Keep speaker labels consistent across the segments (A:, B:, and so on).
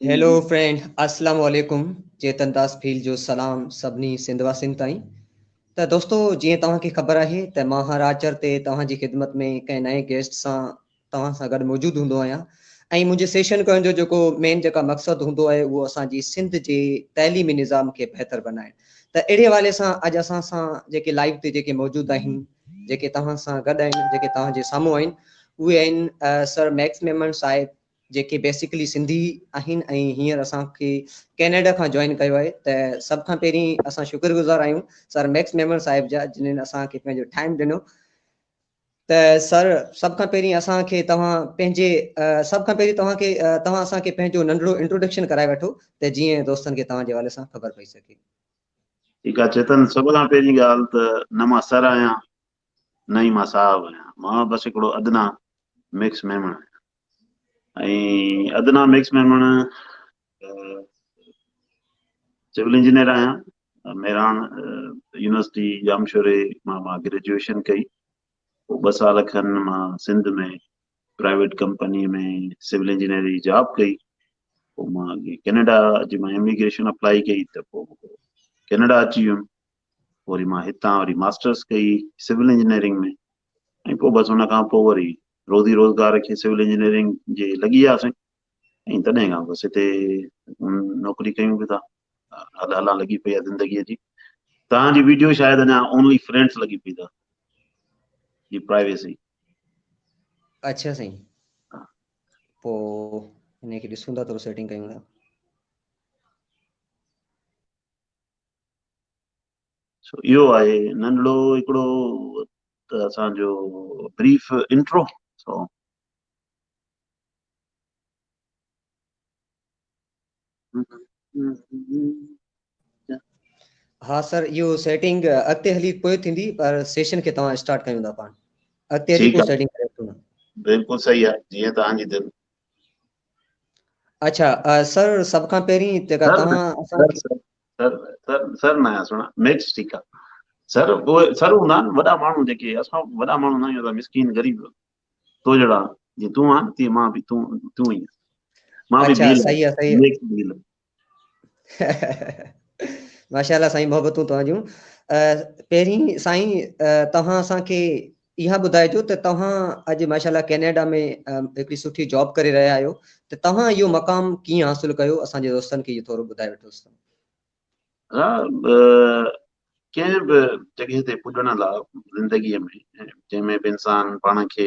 A: Hello
B: friend اسلام عليڪم چيتن داس ڦيل جو سلام سڀني سنڌ واسين تائين ته دوستو جيئن توهان کي خبر آهي ته مان هر آچر تي توهان جي خدمت ۾ ڪنهن نئين گيسٽ سان توهان سان گڏ موجود هوندو آهيان ۽ منهنجي سيشن ڪرڻ جو جيڪو مين جيڪا مقصد هوندو آهي اهو اسان جي سنڌ جي تعليمي نظام کي بهتر بنائڻ ته اهڙي حوالي سان اڄ اسان سان جيڪي لائيو تي جيڪي موجود آهن جيڪي توهان سان گڏ آهن، جيڪي توهان جي سامهون آهن، اهي آهن سر ميڪس ميمڻ صاحب، جيڪي بيسيڪلي سنڌي آهن ۽ هينئر اسان کي ڪينيڊا کان جوائن ڪيو آهي ته سڀ کان پهرين اسان شڪر گذار آهيون سر ميڪس ميمڻ صاحب جا جنن اسان کي پنهنجو ٽائيم ڏنو ته سر سڀ کان پهرين اسان کي توهان پنهنجي سڀ کان پهرين توهان کي توهان اسان کي پنهنجو ننڍڙو انٽروڊڪشن ڪرائي وٺو ته جيئن دوستن کي توهان جي حوالي سان خبر پئي سگهي. ٺيڪ آ
A: چيتن سڀ کان پهرين ڳالهه ته نه مان سر آهيان نه ئي مان صاحب آهيان مان بس هڪڙو ادنا ميڪس ميمڻ آهيان ۽ ادنا ميڪس ميمڻ سول انجنيئر آهيان ميران يونيورسٽي ڄامشوري مان مان گريجويشن ڪئي پوء ٻه سال کن مان Sindh ۾ private company ۾ civil engineer جي جاب ڪئي پوء مان اڳي ڪينيڊا جي مان اميگريشن اپلائي ڪئي ته پوء ڪينيڊا اچي ويم پوء وري مان هتان وري ماسٽرس ڪئي سول انجنيئرنگ ۾ ۽ پوء بس ان کان پوء وري روزي روزگار کي سول انجنيئرنگ جي لڳي وياسين ۽ تڏهن کان بس هتي نوڪري ڪيون پيا ادا الا لڳي پئي آ زندگي جي توهان جي ويڊيو شايد اڃا اونلي فرينڊس لڳي پئي اٿا جي پرائيويسي
B: اچھا سائين پو انهي کي ڏسون ٿا ٿورو سيٽنگ ڪيون ٿا سو اهو
A: آهي ننڍڙو هڪڙو ته اسان جو بريف انٽرو سو
B: ها سر اهو سيٽنگ اڳتي هلي پوء ٿيندي پر سيشن کي توهان اسٽارٽ ڪيون ٿا پاڻ اڳتي هلي پوء سيٽنگ ڪري وٺو بالڪل صحيح
A: آهي جيئن توهان جي دل اچھا
B: سر سب کان پهرين جيڪا توهان اسان کي سر
A: سر سر نه سڻا ميڪس ٺيڪ آهي سر سر هوندا آهن وڏا ماڻهو جيڪي اسان وڏا ماڻهو نه آهيون مسڪين غريب تو جهڙا جي تون آن تي مان به تون تون ئي مان به بيل صحيح آ صحيح نيڪ
B: بيل ماشاءالله سائين محبتون توهان جون پهرين سائين توهان اسان کي اها ٻڌائجو ته توهان اڄ ماشاءالله ڪينيڊا ۾ هڪڙي سٺي جاب ڪري رهيا آهيو ته توهان اهو مقام ڪيئن حاصل ڪيو اسان جي دوستن کي اهو ٿورو ٻڌائي وٺوس
A: ها ڪنهن به جڳهه تي پڄڻ لاء زندگيء ۾ جنهن ۾ به انسان پاڻ کي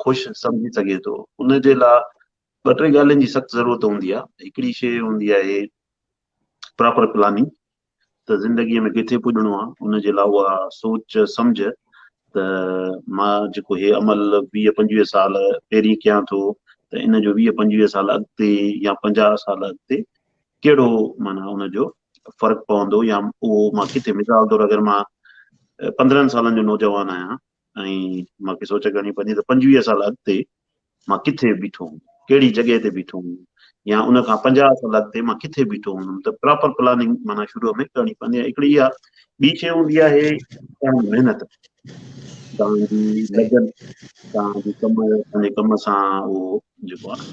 A: خوش سمجهي سگهي ٿو ان جي لاء ٻه ٽي ڳالهين جي سخت ضرورت هوندي آهي هڪڙي شي هوندي آهي پراپر پلاننگ ته زندگيء ۾ ڪٿي پڄڻو آهي ان جي لاء اها سوچ سمجھ ته مان جيڪو هي عمل ويهه پنجويهه سال پهرين ڪيان ٿو ته ان جو ويهه پنجويهه سال اڳتي يا پنجاهه سال اڳتي ڪهڙو معنيٰ ان جو فرق پوندو يا اهو مان ڪٿي مثال طور اگر مان پندرهن سالن جو نوجوان آهيان ۽ مان کي سوچ ڪرڻي پوندي ته پنجويهه سال اڳتي مان ڪٿي بيٺو هوم ڪهڙي جڳهه تي بيٺو هوم يا ان کان پنجاهه سال اڳتي مان ڪٿي بيٺو هوندم ته پراپر پلاننگ معنيٰ شروع ۾ ڪرڻي پوندي ۽ هڪڙي اها ٻي شيء هوندي آهي تنهنجي محنت تنهنجي لگن تنهنجي ڪم تنهنجي ڪم سان اهو جيڪو آهي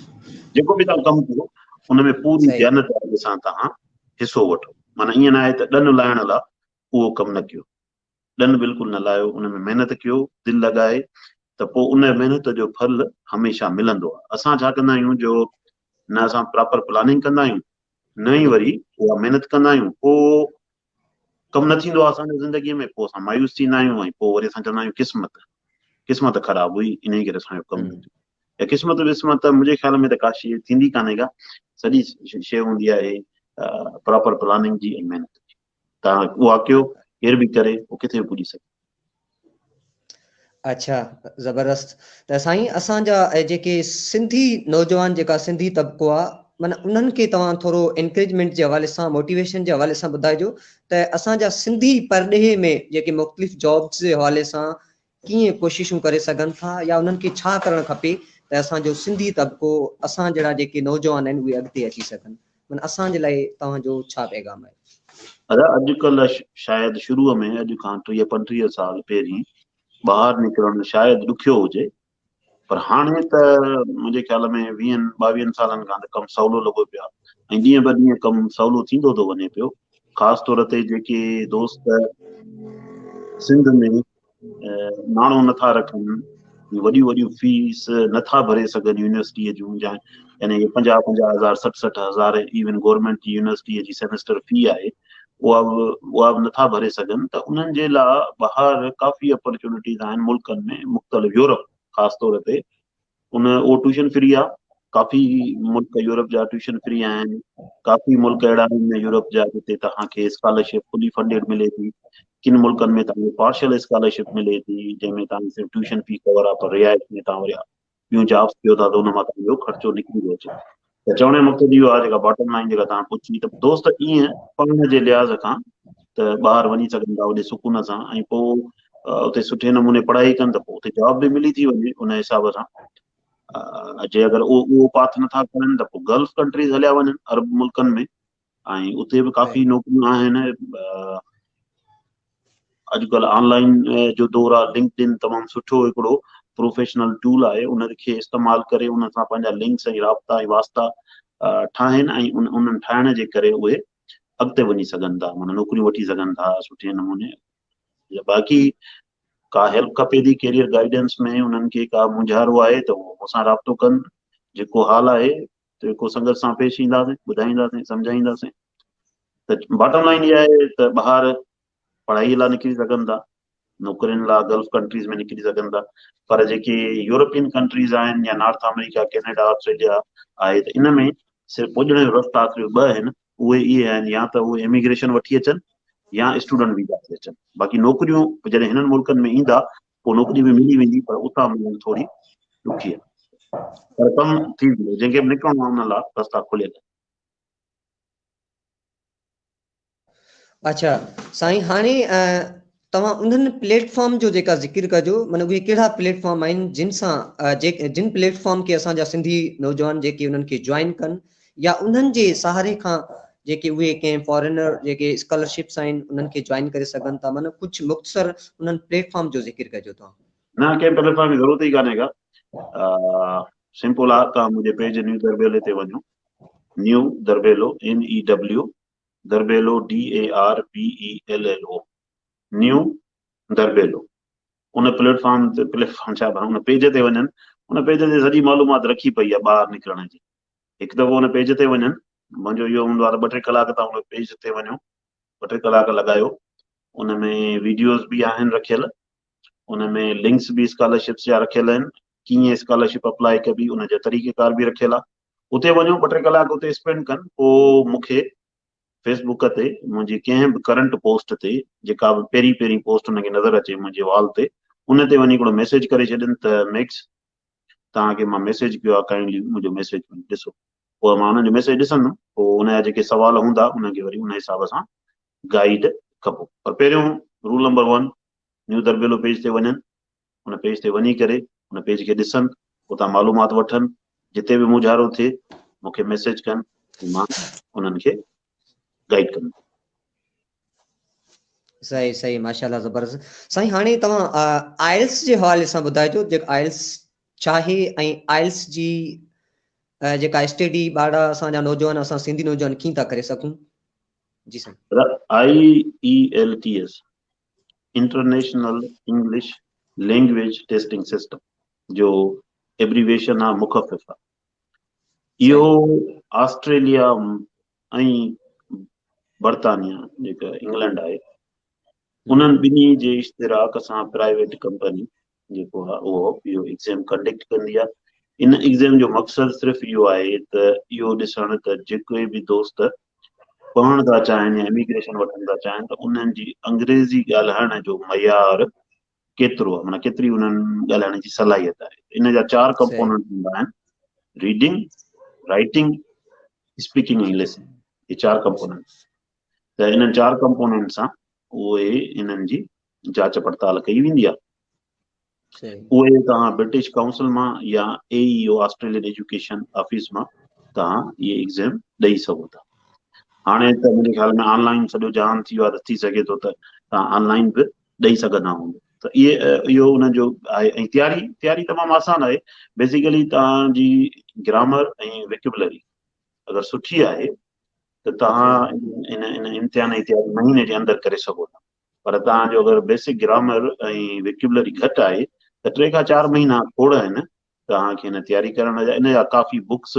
A: جيڪو به توهان ڪم ڪيو ان ۾ پوري جانبداري سان
B: توهان
A: حصو وٺو معنيٰ ائين ناهي ته ڏن لاهڻ لاء اهو ڪم نه ڪيو ڏن بلڪل نه لاهيو ان ۾ محنت ڪيو دل لڳائي ته پوء ان محنت جو ڦل هميشه ملندو آهي اسان ڇا ڪندا آهيون جو نه اسان پراپر پلاننگ ڪندا آهيون نه ئي وري اها محنت ڪندا آهيون پوء ڪم نه ٿيندو آهي اسان جي زندگيء ۾ پوء اسان مايوس ٿيندا آهيون ۽ پوء وري اسان چوندا آهيون قسمت قسمت خراب هئي انهي ڪري اسان جو ڪم نه ٿيو يا قسمت وسمت ته منهنجي خيال ۾ ته ڪا شيء ٿيندي ڪانهي ڪا سڄي شيء هوندي آهي پراپر پلاننگ جي ۽ محنت جي تان اها ڪيو ڪير به ڪري اهو ڪٿي به پڄي سگهي اڇا
B: زبردست ته سائين اسان جا جيڪي سنڌي نوجوان جيڪا سنڌي طبقو آ من انهن کي توهان ٿورو انڪريجمينٽ جي حوالي سان موٽيويشن جي حوالي سان ٻڌائجو ته اسان جا سنڌي پرڏيهي ۾ جيڪي مختلف جابس جي حوالي سان ڪيئن ڪوششون ڪري سگهن ٿا يا انهن کي ڇا ڪرڻ کپي ته اسان جو سنڌي طبقو اسان جهڙا جيڪي نوجوان آهن اهي اڳتي اچي سگهن من اسان جي لاء توهان جو ڇا پيغام آهي؟ ادا اڄ ڪلهه
A: شايد شروع ۾ اڄ کان ٽيهه پنٽيهه سال پهرين ٻاهر نڪرڻ شايد ڏکيو هجي پر هاڻي ته منهنجي خيال ۾ ويهن ٻاويهن سالن کان ته ڪم سولو لڳو پيو آهي ۽ ڏينهن به ڏينهن ڪم سولو ٿيندو ٿو وڃي پيو خاص طور تي جيڪي دوست سنڌ ۾ ناڻو نٿا رکن، وڏيون وڏيون فيس نٿا ڀري سگهن يونيورسٽيء جون، يعني پنجاهه پنجاهه هزار سٺ سٺ هزار ايون گورنمينٽ جي يونيورسٽيء جي سيمسٽر في آهي اها به اها به نٿا ڀري سگهن ته انهن جي لاء ٻاهر ڪافي اپرچونٽيز آهن ملڪن ۾ مختلف يورپ خاص طور تي ان اهو ٽيوشن فري آ ڪافي ملڪ يورپ جا ٽيوشن فري آهن ڪافي ملڪ اهڙا آهن ۾ يورپ جا جتي توهان کي اسڪالرشپ فلي فنڊيڊ ملي ٿي ڪن ملڪن ۾ توهان کي پارشل اسڪالرشپ ملي ٿي جنهن ۾ توهان صرف ٽيوشن في ڪور آ پر رهائش ۾ توهان وري ٻيون جابس ڪيو ٿا ته ان مان توهان جو خرچو نڪري ٿو اچي ته چوڻ جو مقصد اهو آهي جيڪا باٽم لائن جيڪا توهان پڇي ته دوست ائين پڙهڻ جي لحاظ کان ته ٻاهر وڃي سگهن ٿا اوڏي سڪون سان ۽ پوء اتي سٺي نموني پڙهائي ڪن ته پوء اتي جاب به ملي ٿي وڃي ان حساب سان جي اگر اهو اهو پاٿ نٿا کرن ته پوء گلف ڪنٽريز هليا وڃن عرب ملڪن ۾ ۽ اتي به ڪافي نوڪريون آهن اڄڪلهه آن لائن جو دور آهي لنڪڊ ان تمام سٺو هڪڙو پروفيشنل ٽول آهي ان کي استعمال ڪري ان سان پنهنجا لنڪس ۽ رابطا ۽ واسطا ٺاهن ۽ انهن ٺاهڻ جي ڪري اهي اڳتي وڃي سگهن ٿا معنی نوڪريون وٺي سگهن ٿا سٺي نموني باقي ڪا هيلپ کپي ٿي ڪيريئر گائيڊنس ۾ انهن کي ڪا مونجهارو آهي ته اهو مون سان رابطو ڪن جيڪو حال آهي جيڪو سنگت سان پيش اينداسين ٻڌائينداسين سمجهائينداسين ته باٽم لائن اها آهي ته ٻاهر پڙهائي لاء نڪري سگهن ٿا نوڪرين لاء گلف ڪنٽريز ۾ نڪري سگهن ٿا پر جيڪي يورپين ڪنٽريز آهن يا نارٿ آمريڪا ڪينيڊا آسٽريليا آهي ته ان ۾ صرف پڄڻ جو رستا آخري ٻه آهن اهي اهي آهن يا ته اهي اميگريشن وٺي اچن يا اسٽوڊنٽ ويزا تي اچن باقي نوڪريون جڏهن هنن ملڪن ۾ ايندا ڪو نوڪري به ملي ويندي پر اتان ملڻ ٿوري ڏکي آهي پر ڪم ٿي ويندو جنهن کي به نڪرڻو آهي ان لاء رستا کليل آهن.
B: اچا سائين هاڻي توهان انهن پليٽ فارم جو جيڪا ذڪر ڪجو معنيٰ اهي ڪهڙا پليٽ فارم آهن جن سان جن پليٽ فارم کي اسان جا سنڌي نوجوان جيڪي انهن کي جوائن ڪن يا انهن جي سهاري کان جيڪي اهي ڪنهن فارينر جيڪي اسڪالرشپس آهن انهن کي جوائن ڪري سگهن ٿا معنيٰ ڪجهه مختصر انهن پليٽ فارم جو ذڪر ڪجو توهان. نه ڪنهن پليٽ فارم
A: جي ضرورت ئي ڪانهي ڪا سمپل آ توهان منهنجي پيج نيو دربيلي تي وڃو new Darbello NEW Darbello DARBELLO new Darbello ان پليٽ فارم تي پليٽ فارم ڇا ان پيج تي وڃن ان پيج تي سڄي معلومات رکي پئي آ ٻاهر نڪرڻ جي هڪ دفعو ان پيج تي وڃن، منهنجو اهو هوندو آهي ته ٻه ٽي ڪلاڪ تان ان پيج تي وڃو، ٻه ٽي ڪلاڪ لڳايو، ان ۾ ويڊيوز به آهن رکيل، ان ۾ لنڪس به اسڪالرشپس جا رکيل آهن، ڪيئن اسڪالرشپ اپلائي ڪبي ان جا طريقه ڪار به رکيل آهي، اتي وڃو ٻه ٽي ڪلاڪ اتي اسپينڊ ڪن، پوء مون کي فيس بوڪ تي منهنجي ڪنهن به ڪرنٽ پوسٽ تي جيڪا به پهرين پهرين پوسٽ انهن کي نظر اچي منهنجي وال تي ان تي وڃي هڪڙو ميسيج ڪري ڇڏين ته ميڪس توهان کي مان ميسيج ڪيو آهي ڪائنڊلي منهنجو ميسيج وڃي ڏسو پوء مان انهن جو ميسيج ڏسندم پوء ان جا جيڪي سوال هوندا انهن کي وري ان حساب سان گائيڊ ڪبو پر پهريون roll number one new Darbello page تي وڃن ان پيج تي وڃي ڪري ان پيج کي ڏسن اتان معلومات وٺن جتي به مجهارو ٿئي مونکي ميسيج ڪن مان انهن کي گائيڊ ڪندو.
B: صحيح صحيح ماشاءالله زبردست سائين هاڻي توهان آئلس جي حوالي سان ٻڌائجو جيڪ آئلس چاهي ۽ آئلس جي جيڪا اسٽيڊي ٻارڙا اسان جا نوجوان اسان سنڌي نوجوان ڪيئن ٿا ڪري سگھون جي سائين I E L
A: T S international English language testing system جو ايبريويشن آ مخفف آ اهو آسٽريليا ۽ برطانيا جيڪا انگلنڊ آهي انهن ٻنهي جي اشتراڪ سان پرائيويٽ ڪمپني جيڪو آهي اهو اهو ايگزيم ڪنڊڪٽ ڪندي آهي ان ايگزيم جو مقصد صرف اهو آهي ته اهو ڏسڻ ته جيڪي به دوست پڙهڻ ٿا چاهن يا اميگريشن وٺڻ ٿا چاهن ته انهن جي انگريزي ڳالهائڻ جو معيار ڪيترو معنيٰ ڪيتري انهن ڳالهائڻ جي صلاحيت آهي ان جا چار ڪمپوننٽ هوندا آهن ريڊنگ رائٽنگ اسپيڪنگ ۽ لسننگ هي چار ڪمپوننٽ ته انهن چار ڪمپوننٽ سان اهي انهن جي جاچ پڙتال ڪئي ويندي آهي اهي توهان برٽش ڪائونسل مان يا A E O Australian education office مان توهان اهي ايگزام ڏئي سگهو ٿا هاڻي ته منهنجي خيال ۾ آنلائن سڄو جهان ٿي ويو آهي ته ٿي سگهي ٿو ته توهان آنلائن به ڏئي سگهندا هئون ته اهو انهن جو آهي ۽ تياري تياري تمام آسان آهي بيسيڪلي توهان جي گرامر ۽ وڪيبلري اگر سٺي آهي ته توهان ان ان امتحان جي تياري مهيني جي اندر ڪري سگهو ٿا پر توهان جو اگر بيسڪ گرامر ۽ وڪيبلري گهٽ آهي ته ٽي کان چار مهينا ٿورا آهن توهان کي هن تياري ڪرڻ جا ان جا ڪافي بڪس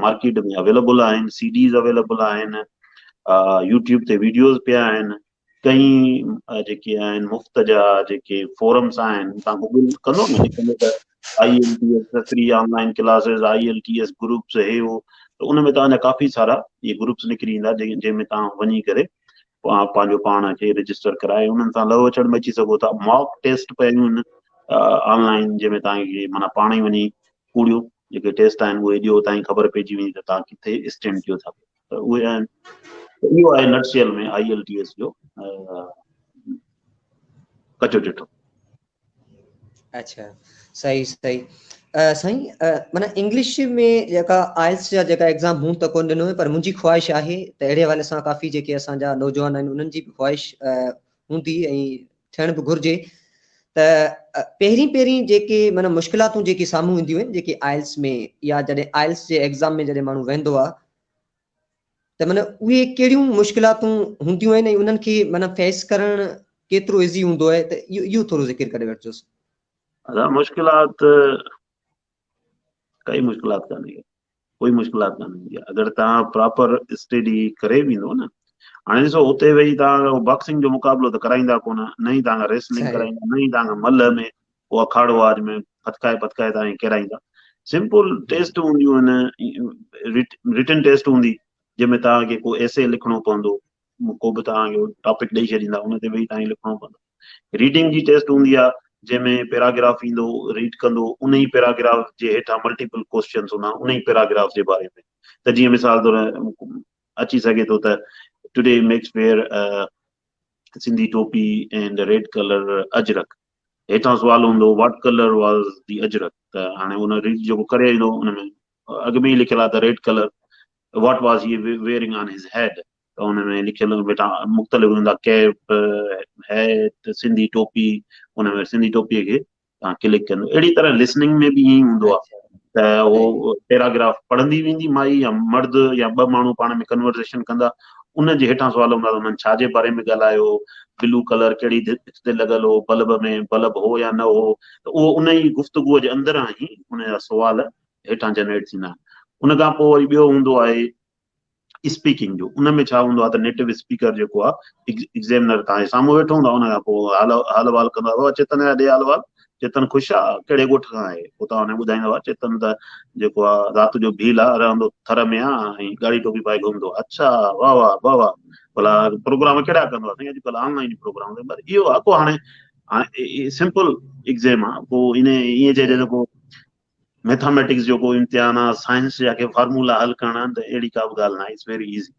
A: مارڪيٽ ۾ اويليبل آهن سي ڊيز اويليبل آهن يوٽيوب تي ويڊيوز پيا آهن ڪئي جيڪي آهن مفت جا جيڪي فورمس آهن تان گوگل ڪندو نه لکندو ته I L T S free online classes I L T S groups هي هو ته ان ۾ تان جا ڪافي سارا اي گروپس نڪري ايندا جنهن ۾ تان وڃي ڪري اوهان پنهنجو پاڻ کي رجسٽر ڪرائي انهن سان لهو چڙ مچي سگهو ٿا ماڪ ٽيسٽ پيون آهن آن لائن جنهن ۾ توهان کي مانا پاڻ ئي وڃي ڪوڙيو جيڪي ٽيسٽ آهن اهي ڏيو تائين خبر پئجي ويندي ته توهان ڪٿي اسٽينڊ ڪيو ٿا ته اهي آهن اهو آهي nutshell ۾ I L T S جو ڪچو چٽو
B: اچھا صحيح صحيح سائين معنيٰ انگلش ۾ جيڪا آئلس جا جيڪا ايگزام مون ته ڪون ڏنو پر منهنجي خواهش آهي ته اهڙي حوالي سان ڪافي جيڪي اسان جا نوجوان آهن انهن جي به خواهش هوندي ۽ ٿيڻ به گهرجي ته پهرين پهرين جيڪي معنيٰ مشڪلاتون جيڪي سامهون اينديون آهن جيڪي آئلس ۾ يا جڏهن آئلس جي ايگزام ۾ جڏهن ماڻهو ويندو آهي ته معنيٰ اهي ڪهڙيون مشڪلاتون هونديون آهن ۽ انهن کي معنيٰ فيس ڪرڻ ڪيترو ايزي هوندو آهي ته اهو ٿورو ذڪر ڪري وٺجوس. ادا
A: مشڪلات ڪائي مشڪلات ڪانهي ڪوئي مشڪلات ڪانهي هوندي آهي اگر تان پراپر اسٽيڊي ڪري ويندو نه هاڻي ڏسو اتي ويهي تان باڪسنگ جو مقابلو ته ڪرائيندا ڪونه نه ئي تان ريسلنگ ڪرائيندا نه ئي تان
B: ملهه
A: ۾ ڪو اکاڙو آج ۾ ڦٿڪائي پٿڪائي تان ڪيرائيندا سمپل ٽيسٽ هونديون آهن رٽن ٽيسٽ هوندي جنهن ۾ توهان کي ڪو ايسي لکڻو پوندو ڪو به توهان کي ٽاپڪ ڏئي ڇڏيندا ان تي ويهي توهان کي لکڻو پوندو ريڊنگ جي ٽيسٽ هوندي آهي جنهن ۾ پيراگراف ايندو ريڊ ڪندو ان ئي پيراگراف جي هيٺان ملٽيپل ڪوشچنس هوندا ان ئي پيراگراف جي باري ۾ ته جيئن مثال طور اچي سگهي ٿو ته today Max wear Sindhi topi and red colour ajrak هيٺان سوال هوندو What color was the اجرڪ ته هاڻي ان ريڊ جيڪو ڪري ايندو ان ۾ اڳ ۾ ئي لکيل آهي ته red colour What was he wearing on his head ته ان ۾ لکيل بيٽا مختلف هوندا ڪيپ هيٽ سنڌي ٽوپي ان ۾ سنڌي ٽوپي کي تان ڪلڪ ڪندو اهڙي طرح لسننگ ۾ به ائين هوندو آهي ته اهو پيراگراف پڙهندي ويندي مائي يا مرد يا ٻه ماڻهو پاڻ ۾ ڪنورزيشن ڪندا ان جي هيٺان سوال هوندا ته هنن ڇا جي باري ۾ ڳالهايو، بلو ڪلر ڪهڙي ڀت تي لڳل هو، بلب ۾ بلب هو يا نه هو ته اهو ان ئي گفتگوء جي اندران ئي ان جا سوال هيٺان جنريٽ ٿيندا آهن. ان کان پوء وري ٻيو هوندو آهي اسپيڪنگ جو، ان ۾ ڇا هوندو آهي ته نيٽو اسپيڪر جيڪو آهي ايگزيمنر توهان جي سامهون ويٺو هوندو آهي ان کان پوء حال احوال ڪندو آهي بابا چيتن ايا ڏي حال احوال چيتن خوش آ، ڪهڙي ڳوٺ کان آهي؟ اتان هن ٻڌائيندو آ، چيتن ته جيڪو آ، رات جو ڀيل آ، رهندو ٿر ۾ آ ۽ ڳاڙهي ٽوپي پائي گهمندو آ. اڇا، واهه واهه، واهه واهه. ڀلا پروگرام ڪهڙا ڪندو آ؟ سائين اڄ ڪلهه آن لائين پروگرام ڪندو آ. بس اهو آ ڪو هاڻي هاڻي سمپل ايڪزيم آ، ڪو ان ائين چئجي ته ڪو ميٿاميٽڪس جو ڪو امتحان آ سائنس جا ڪي فارمولا حل ڪرڻا آهن ته اهڙي ڪا به ڳالهه ناهي اٽس ويري ايزي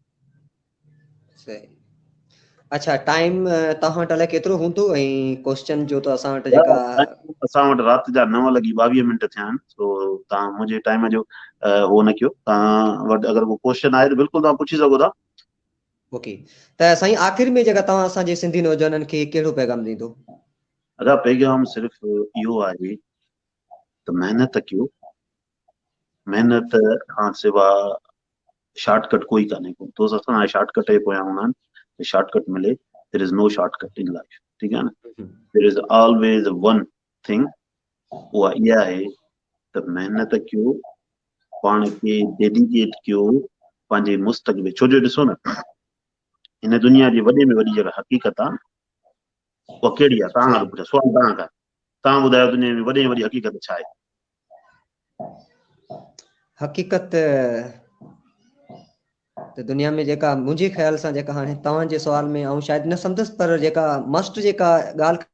A: صحيح
B: اچھا ٽائيم توهان وٽ الائي ڪيترو هوندو ۽ ڪويشچن جو ته اسان وٽ جيڪا اسان وٽ رات
A: جا 9 لڳي 22 منٽ ٿيا آهن سو توهان منهنجي ٽائيم جو هو نه ڪيو توهان وٽ اگر ڪو ڪويشچن آهي ته بلڪل توهان پڇي سگهو ٿا اوڪي
B: ته سائين آخر ۾ جيڪا توهان اسان جي سنڌي نوجوانن کي ڪهڙو پيغام ڏيندو ادا
A: پيغام صرف اهو آهي ته محنت ڪيو، محنت کان سوا شارٽ ڪٽ ڪوئي ڪانهي ڪو دوست اسان آهي شارٽ ڪٽ جي پويان هوندا آهن ته شارٽ ڪٽ ملي there is no shortcut in life ٺيڪ آهي نه there is always one thing اها اها آهي ته محنت ڪيو پاڻ کي ڊيڊيڪيٽ ڪيو پنهنجي مستقبل ڇو جو ڏسو نه هن دنيا جي وڏي ۾ وڏي جيڪا حقيقت آهي اها ڪهڙي آهي؟ توهان کان ٿو پڇان، سوال توهان کان. توهان ٻڌايو دنيا ۾ وڏي ۾ وڏي حقيقت ڇا آهي؟
B: حقيقت ته دنيا ۾ جيڪا منهنجي خيال سان جيڪا هاڻي توهان جي سوال ۾ آئون شايد نه سمجهس پر جيڪا ماسٽر جيڪا ڳالهه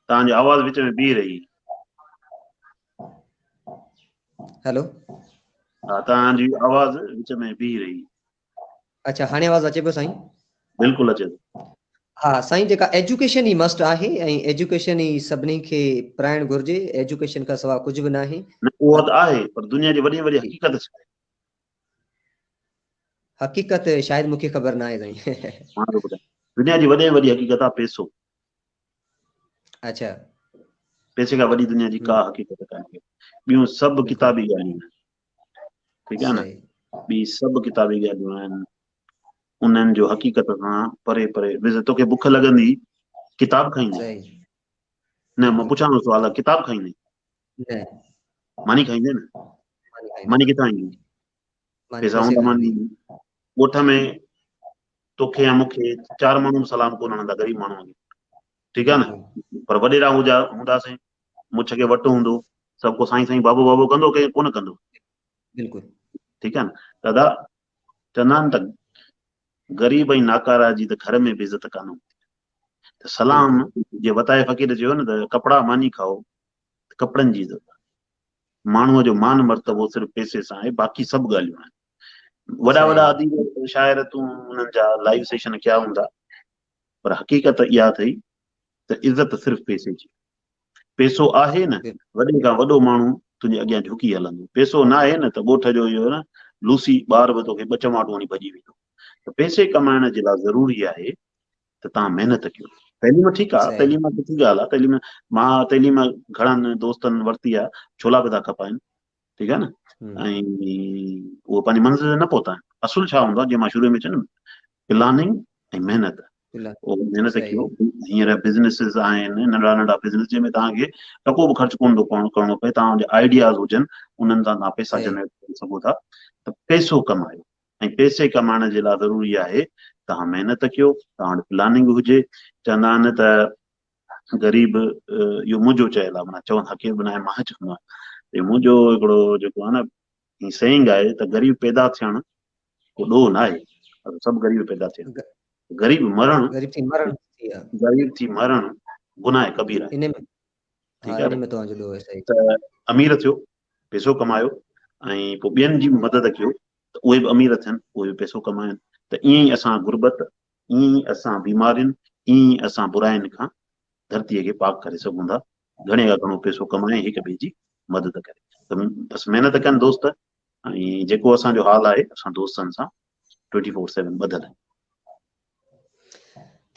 A: تان جي آواز وچ ۾ بيهي رهي
B: هلو
A: ها تان جي آواز وچ ۾ بيهي رهي اچھا
B: هاڻي آواز اچي پيو سائين بلڪل اچي
A: ٿو ها سائين جيڪا
B: ايجوڪيشن ئي مسٽ آهي ۽ ايجوڪيشن ئي سڀني کي پرائڻ گهرجي ايجوڪيشن کان سواء
A: ڪجهه
B: به
A: ناهي نه اهو ته آهي پر دنيا جي
B: وڏي
A: وڏي
B: حقيقت
A: ڇا
B: آهي حقيقت شايد مونکي خبر ناهي سائين. مان ٿو ٻڌايان
A: دنيا جي وڏي ۾ وڏي حقيقت آ پيسو.
B: اڇا.
A: پيسي کان وڏي دنيا جي ڪا حقيقت ڪانهي ٻيون سڀ ڪتابي ڳالهيون آهن ٺيڪ آهي نه ٻي سڀ
B: ڪتابي
A: ڳالهيون آهن انهن جو حقيقت کان پري پري وز توکي بک لڳندي ڪتاب کائيندي
B: نه
A: مان پڇان ٿو سوال ڪتاب کائيندي
B: نه ماني
A: کائيندي نه ماني کي
B: تائين
A: پيسا
B: هوندا ماني
A: ڳوٺ ۾ توکي يا مونکي چار ماڻهو سلام ڪون هڻندا غريب ماڻهو ٺيڪ آ نه پر وڏيرا
B: هجا
A: هونداسين مڇ کي وٽ هوندو سڀ ڪو سائين سائين بابو بابو ڪندو ڪي ڪون ڪندو بلڪل
B: ٺيڪ آ نه
A: دادا چوندا آهن ته غريب ۽ ناڪارا جي ته گهر ۾ بي عزت ڪانه هوندي سلام جي وتايي فقير چيو نه ته ڪپڙا ماني کائو ته ڪپڙن جي عزت آهي. ماڻهوء جو مان مرتبو صرف پئسي سان آهي، باقي سڀ ڳالهيون آهن. وڏا وڏا اديب شاعر تون انهن جا لائيو سيشن ڪيا هوندا پر حقيقت اها اٿئي ته عزت صرف پئسي جي پئسو آهي نه وڏي کان وڏو ماڻهو تنهنجي اڳيان جھڪي هلندو پئسو نه آهي نه ته ڳوٺ جو اهو نه لوسي ٻار به توکي ٻه چماٽون هڻي ڀڄي ويندو ته پئسي ڪمائڻ جي لاء ضروري آهي ته توهان محنت ڪيو تعليم ٺيڪ آ تعليم آ سٺي ڳالهه آ تعليم مان تعليم گهڻن دوستن ورتي آ ڇولا به ٿا کپائن ٺيڪ آ نه ۽ اهو پنهنجي منزل نه پهتا آهن اصل ڇا هوندو آ جيئن مان شروع ۾ چيم پلاننگ ۽ محنت محنت ڪيو هينئر بزنسز آهن ننڍا ننڍا بزنس جنهن ۾ توهان کي ٽڪو به خرچ ڪون ٿو پوڻو ڪرڻو پئي توهان جا آئيڊياز هجن انهن تان توهان پيسا جنريٽ ڪري سگهو ٿا ته پيسو ڪمايو ۽ پئسي ڪمائڻ جي لاء ضروري آهي توهان محنت ڪيو، توهان وٽ پلاننگ هجي، چوندا آهن ته غريب اهو منهنجو چيل آهي معنيٰ چون حقير به ناهي مان چوندو آهيان اهو منهنجو هڪڙو جيڪو آهي نه هي سينگ آهي ته غريب پيدا ٿيڻ ڪو ڏوهه ناهي سڀ غريب پيدا ٿيا غريب مرڻ غريب ٿي مرڻ
B: غريب ٿي مرڻ
A: گناهه ڪبير آهي
B: ٺيڪ آهي
A: نه ته
B: امير ٿيو
A: پيسو ڪمايو ۽ پوء ٻين جي به مدد ڪيو ته اهي به امير ٿين اهي به پيسو ڪمائن ته ائين ئي اسان غربت ائين ئي اسان بيمارين ائين ئي اسان براين کان ڌرتي کي پاڪ ڪري سگهون ٿا گهڻي کان گهڻو پيسو ڪمائي هڪ ٻئي جي مدد ڪري ته بس محنت ڪن دوست ۽ جيڪو اسان جو حال آهي اسان دوستن سان ٽوئنٽي فور سيون ٻڌل آهي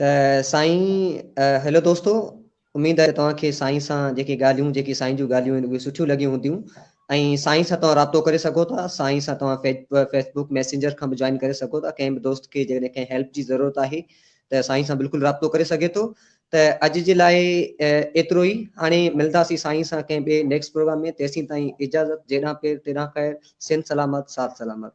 A: ته
B: سائين هيلو دوستو اميد آهي ته توهان کي سائين سان جيڪي ڳالهيون جيڪي سائين جون ڳالهيون آهن اهي سٺيون لڳيون هونديون ۽ سائين سان توهان رابطو ڪري سگهو ٿا سائين سان توهان فيس بوڪ ميسينجر کان به جوائن ڪري سگهو ٿا ڪنهن به دوست کي جيڪڏهن ڪنهن هيلپ جي ضرورت آهي ته سائين سان بلڪل رابطو ڪري سگهي ٿو ته اڄ جي لاء ايترو ئي. هاڻي ملنداسين سائين سان ڪنهن ٻئي نيڪسٽ پروگرام ۾ تيسين تائين اجازت جيڏانهن پير تيڏانهن خير سنڌ سلامت ساٿ سلامت.